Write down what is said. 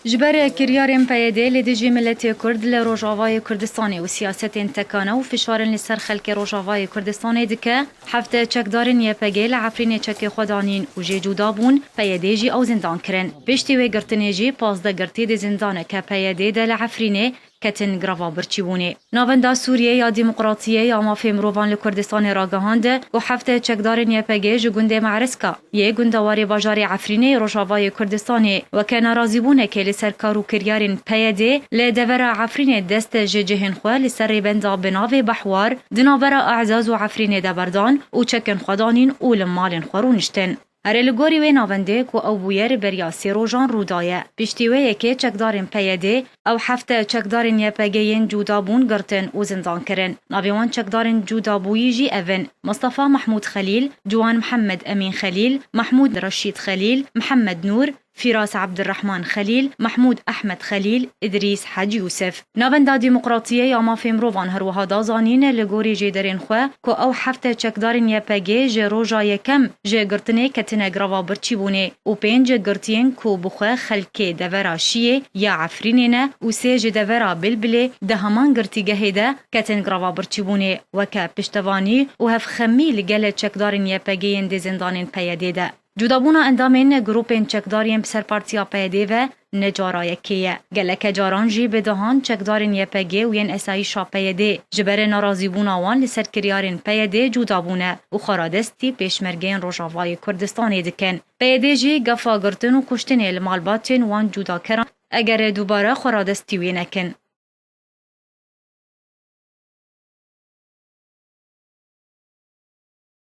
Ji ber kiryarên PYD li dijî miletê Kurd li Rojavayê Kurdistanê û siyasetên tekane û fişarin li ser xelkê Rojavayê Kurdistanê dike, hevdeh çekdarên YPG'ê li Efrînê çekê xwe danîn û jê cûda bûn, PYD'ê jî ew zindan kirin. Piştî wê girtinê jî pazdeh girtî di zindaneke PYD'ê de li Efrînê ketin greva birçîbûnê. Navenda Sûriyê ya Dîmoqratiyê ya Mafê Mirovan li Kurdistanê ragihand ku heft çekdarên YPG ji gundê Me'riska yê gunda warê bajarê Efrînê yê rojavayê Kurdistanê weke narazîbûnekê li ser kar û kiryarên PYD li devera Efrînê dest ji cihên xwe li ser rêbenda bi navê Bahwar di navbera E'zaz û Efrînê de berdan û çekên xwe danîn û li malên xwe rûniştin. Erê li gorî wê navendê ku ew bûye li beriya sê rojan rû daye. Piştî wê yekê çekdarên PYDê ew hefte çekdarên YPGê yên cûda bûn girtin û zindan kirin. Navên wan çekdarên cûda bûyî jî ev in, Mistefa Mehmûd Xelîl, Ciwan Mihemed Emîn Xelîl, Mehmûd Reşîd Xelîl, Mihemed Nûr, Fîras Abdirehman Xelîl, Mehmûd Ehmed Xelîl, Îdrîs Hec Yûsif. Navenda Demokratiyê ya Mafê Mirovan her wiha da zanîn li gorî jêderên xwe ku ew hefte çekdarên YPG ji roja yekem ji girtinê ketine greva birçîbûnê û pênc girtiyên ku bi xwe xelkê devera Şiyê ya Efrînê ne û sê ji devera Bilbilê di heman girtîgehê de ketin greva birçîbûnê weke piştevanî û hevxemî li gele çekdarên YPG'ên dê zindanên PYD'ê de Cudabûna endamên grûpên çekdar yên bi ser partiya PYD ve ne cara yekê ye. Geleke caran jî bi dehan çekdarên YPG û yên esayîşa PYD'ê ji berê narazîbûna wan li ser kiryarên PYD'ê cuda bûne û xwaradestî pêşmergeyên Rojavayê Kurdistanê dikin. PYD jî gefa girtin û kuştinê li malbatên wan cudakeran eger dubare xwaradestî wê nekin.